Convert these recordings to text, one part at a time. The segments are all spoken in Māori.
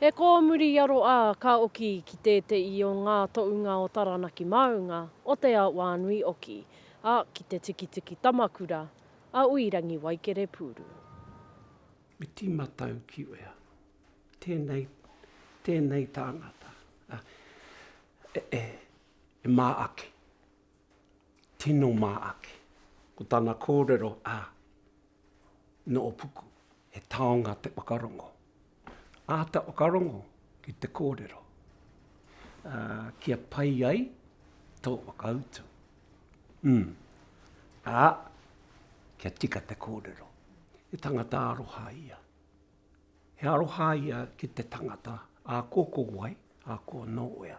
He kōmuri i aro ā, ka oki ki tēteī o ngā toʻunga o Taranaki Māunga, o Te Aoānui oki, ā, ki te tikitiki tamakura a Uirangi Waikerepuuru. Me tima tau ki wea. Tēnei, tēnei tāngata, a, e, e, e mā ake. Tino mā ake. Ko tana kōrero, a. Noopuku, he taonga te whakarongo. Āta whakarongo ki te kōrero, ā, kia pai ai tō whakautu. Umm, ā, kia tika te kōrero. He tangata aroha ia. He aroha ia ki te tangata, ā, ko ko wai, ā, ko nōwea.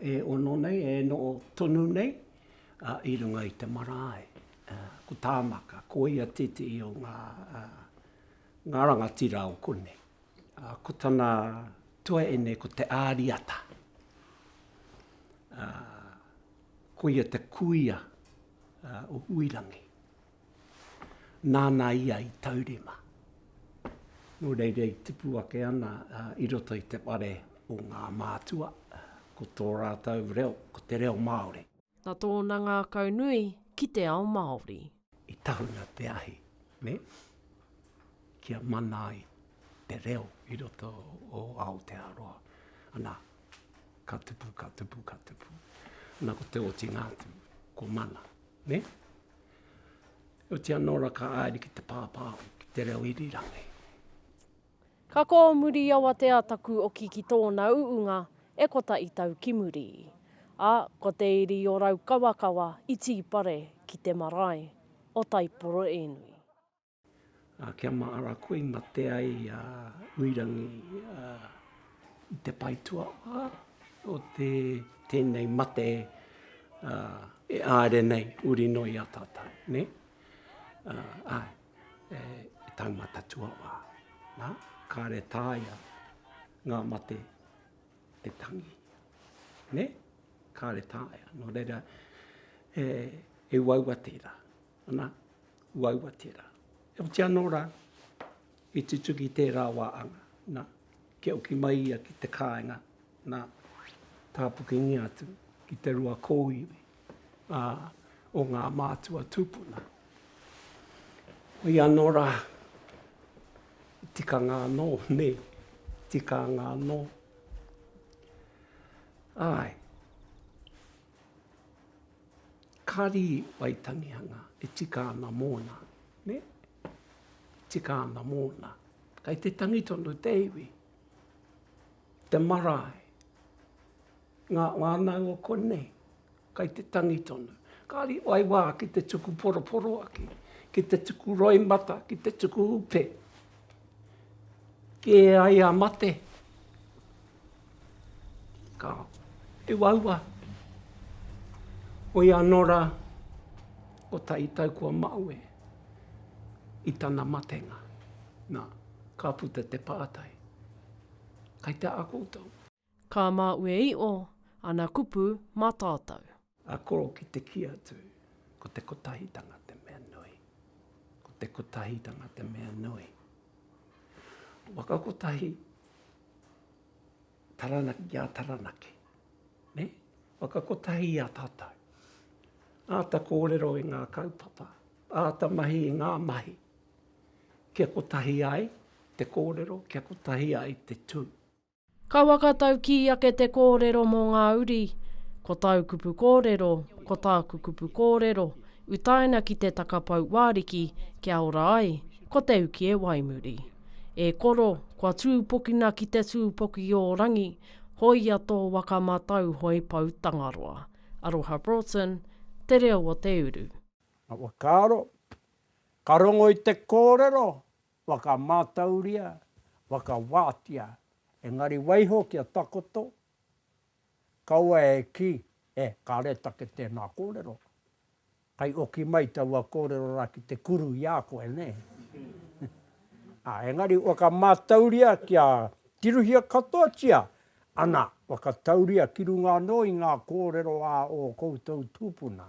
e ono nei, e noho tonu nei i runga i te marae. Ko Tāmaka, ko ia tētehi o ngā rangatira o konei. Ko tana tuaine ko Te Āriata. Ko ia te kuia o Huirangi. nāna ia i taurima. Nō reira i tipu ake ana i roto i te whare o ngā mātua, ko tō rātou reo, ko te reo Māori. Na tōna ngākau nui ki te ao Māori. I tahuna te ahi, nē, kia mana ai te reo i roto o Aotearoa. Ana, ka tupu, ka tupu, ka tupu. Na ko te otinga atu, ko mana, nē? Otiia nō ra ka aere ki te pāpā ki te reo irirangi. Ka kōo muri i awatea taku oki ki tōna uunga e kotahi tau ki muri. A, ko te iri o Raukawakawa i tīpare ki te marae o Taiporoenui. a Kia Maara koe i mate ai a Uirangi a i te pae tuawha o te tenei mate a e aere nei uri no i a tatou ne a ai e taumata tuawha na kare taia nga mate te tangi ne kare taia no reira e e uaua tera Ana, uaua tērā. E oti anō rā, i tutuki tērā wā anga, nā, kia oki mai ia ki te kāinga, nā, tāpukingia atu ki te rua kōiwi ā, o ngā mātua tūpuna. Hoi anō rā, i tikanga anō, nē, tikānga anō. Āe. Kari Waitangihanga e tika ana mōna, nē? E tika ana mōna. Kei te tangi tonu te iwi, te marae, ngā whānau o konei, kei te tangi tonu. Kāri whai wā ki te tuku poroporoaki, ki te tuku roimata, ki te tuku upe, Kē ai a mate, ka uaua, hoi anō rā, ko tai tau kua maue i tana matenga. Nā, ka puta te pātai, kei te aha koutou? Ka maue i o ana kupu ma tatou. A koro ki te ki atu. Ko te kotahitanga te mea nui. Ko te kotahitanga te mea nui. Waka kotahi, Taranaki ki a Taranaki, ne? Waka kotahi i a tatou. Ata korero i nga kaupapa, ata mahi i nga mahi. Kia kotahi ai te korero, kia kotahi ai te tu. Ka whakataukī ake te kōrero mō ngā uri, Ko tāu kupu kōrero, ko tāku kupu kōrero, utaina ki te takapau wāriki kia ora ai, ko te uki e waimuri. E koro, kua tūpokina ki te tūpoki ō rangi, hōia tō waka mā tāu hoe pou Tangaroa. Aroha Broughton, Te Reo o te Uru. Ka whakaaro, ka rongo i te kōrero, Whakamātauria, whakawātia, engari waiho kia takoto, kaua e kī, e, kāre take tēnā kōrero. Kai oki mai taua kōrero rā ki te kuru i a koe, nē? Ā, engari whakamātauria kia tirohia katoatia, ana, whakatauria ki runga anō i ngā kōrero a ō koutou tūpuna.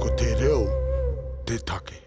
Ko te reo te take.